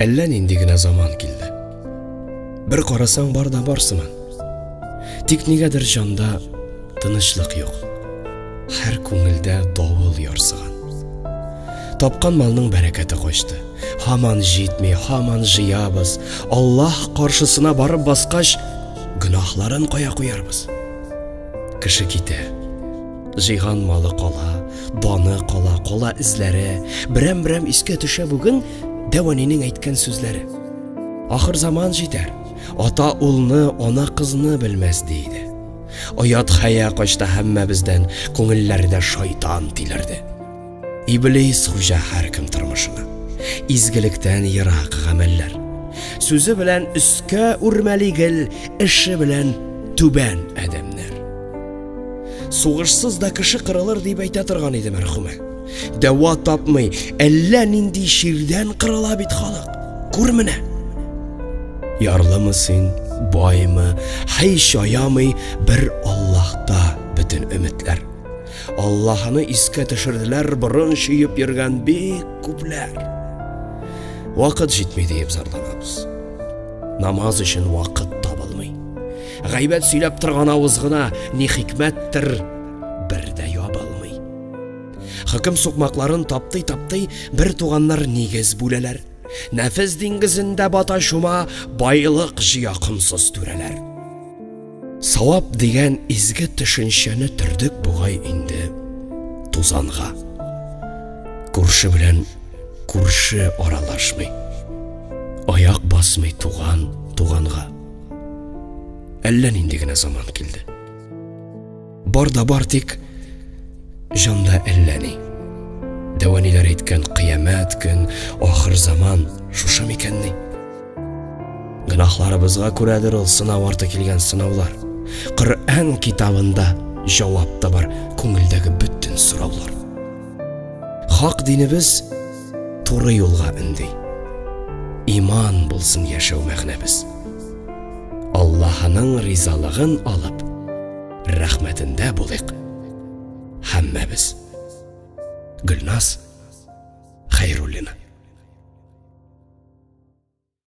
Әллә нинди генә заман килде. Бер карасаң бар да бар сыман. Тик нигәдер җанда тынычлык юк. Һәр күңелдә давыл ярсыган. Тапкан малның бәрәкәте качты. Һаман җитми, һаман җыябыз. Аллаһ каршысына барып баскач, гөнаһларын кая куярбыз? Кеше китә. Җыйган малы кала, даны кала, кала эзләре, берәм-берәм искә төшә бүген Дәванинең әйткән сүзләре. Ахыр заман җитәр, ата улны, ана кызны белмәс ди иде. Оят хәя качта һәммәбездән, күңелләрдә шайтан тилерде. Иблис хуҗа һәркем тормышына. Изгелектән ерак гамәлләр. Сүзе белән өскә үрмәли гел, эше белән түбән адәмнәр. Сугышсыз да кеше кырылыр дип әйтә торган иде мәрхүмә. Дәва тапмый, әллә нинди чирдән кырыла бит халык. Күр менә. Ярлымы син, баймы, һич аямый бер Аллаһта бөтен өметләр. Аллаһыны искә төшерделәр борын чөеп йөргән бик күпләр. Вакыт җитми диеп зарланабыз. Намаз өчен вакыт табылмый. Гайбәт сөйләп торган авыз гына ни хикмәттер бер дә ябылмый. Хөкем сукмакларын таптый-таптый бер туганнар нигез бүләләр. Нәфес диңгезендә бата шума байлык җыя комсыз түрәләр. Савап дигән изге төшенчәне төрдек бугай инде тузанга. Күрше белән күрше аралашмый. Аяк басмый туган туганга. Әллә нинди генә заман килде. Бар да бар тик җанда әллә ни. Дәвәниләр әйткән кыямәт көн, ахыр заман шушы микәнни? Гынахларыбызга күрәдер ул сынау арты килгән сынаулар. Коръән китабында җавап та бар күңелдәге бөтен сораулар. Хак динебез туры юлга өнди. Иман булсын яшәү мәгънәбез. Аллаһының ризалыгын алып, рәхмәтендә булыйк һәммәбез. Гөлназ Хәйруллина